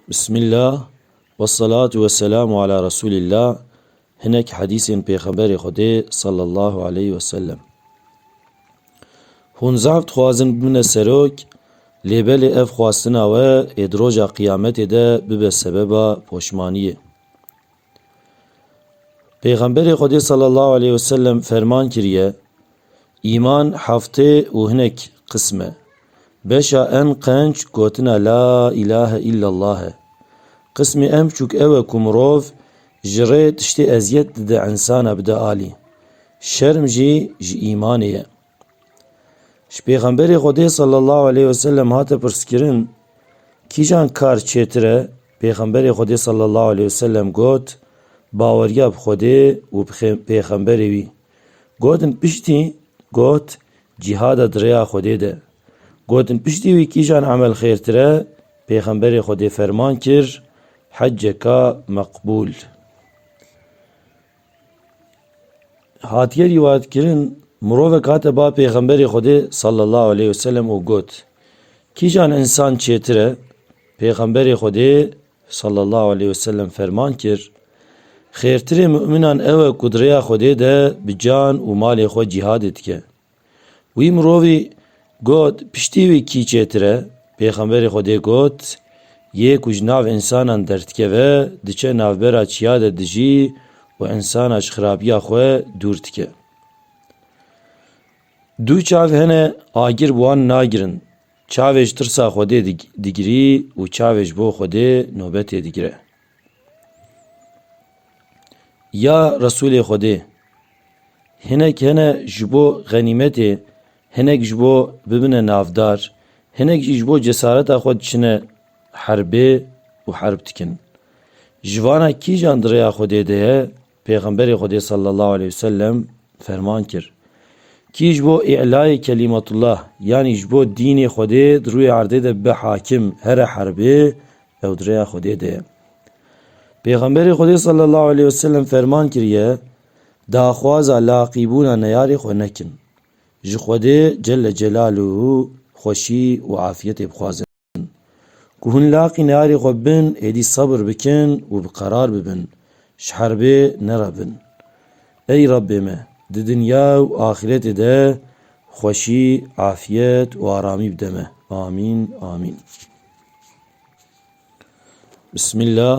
Bismillah ve salatu ve selamu ala Resulillah hinek hedîsên Pêxemberê Xwedê sallallahu aleyhi ve sellem. Hûn zaf dixwazin bibine serok, lê belê ev xwastina we ê di roja qîyametê de bibe sebeba poşmaniyê. Pêxemberê Xwedê sallallahu aleyhi ve sellem ferman kiriye, Îman heftê û hinek qism e. Beşa en qenc gotina La îlahe îllallah e. Qismê en biçûk ew e ku mirov ji rê tiştê eziyet dide insana bide alî. Şerm jî ji îmanê ye. Ji Pêxemberê Xwedê sallallahu aleyh ve sellem hate pirskirin, Kîjan kar çêtir e? Pêxemberê Xwedê sallallahu aleyh ve sellem got, Baweriya bi Xwedê û bi Pêxemberê wî. Gotin piştî got cîhada di rêya Xwedê de. Gotin piştî wî kîjan emel xêrtir e, Pêxemberê Xwedê ferman kir, Heceka meqbûl. Hatiye rîwayet kirin, mirovek hate ba Pêxemberê Xwedê sallallahu aleyh weselem û got, Kîjan insan çêtir e? Pêxemberê Xwedê Sallallahu aleyh ve sellem ferman kir, Xêrtirê mu'minan ew e ku di rêya Xwedê de bi can û malê xwe cîhadê dike. Wî mirovî got, Piştî wî kî çêtir e? Pêxemberê Xwedê got, Yê ku ji nav însanan derdikeve, diçe navbera çiya de dijî û însana ji xirabiya xwe dûr dike. Du çav hene agir bi wan nagirin. Çavê ji tirsa Xwedê digirî û çavê ji bo Xwedê nobetê digire. Ya Resulê Xwedê, hinek hene ji bo xenîmetê, hinek ji bo bibine navdar, hinek jî ji bo cesareta xwe diçine herbê û herb dikin. Ji vana kîjan di rêya Xwedê de ye Pêxemberê Xwedê sallallahu aleyh û sellem ferman kir, Kî ji bo îlayê kelîmetullah yanî ji bo dînê Xwedê di rûyê erdê de bibe hakim here herbê, ew di rêya Xwedê de ye. Pêxemberê Xwedê sallallahu aleyh û sellem ferman kiriye, Daxwaza laqîbûna neyarê xwe nekin. Ji Xwedê celle celâluhu xweşî û afiyetê bixwazin. Ku hûn laqî nearê xwe bin, êdî sebir bikin û bi qerar bibin, ji herbê nerebin. Ey Rebbê me, di dinya û axîretê de xweşî, afiyet û aramî bide me. Amîn, amîn. Bismillah.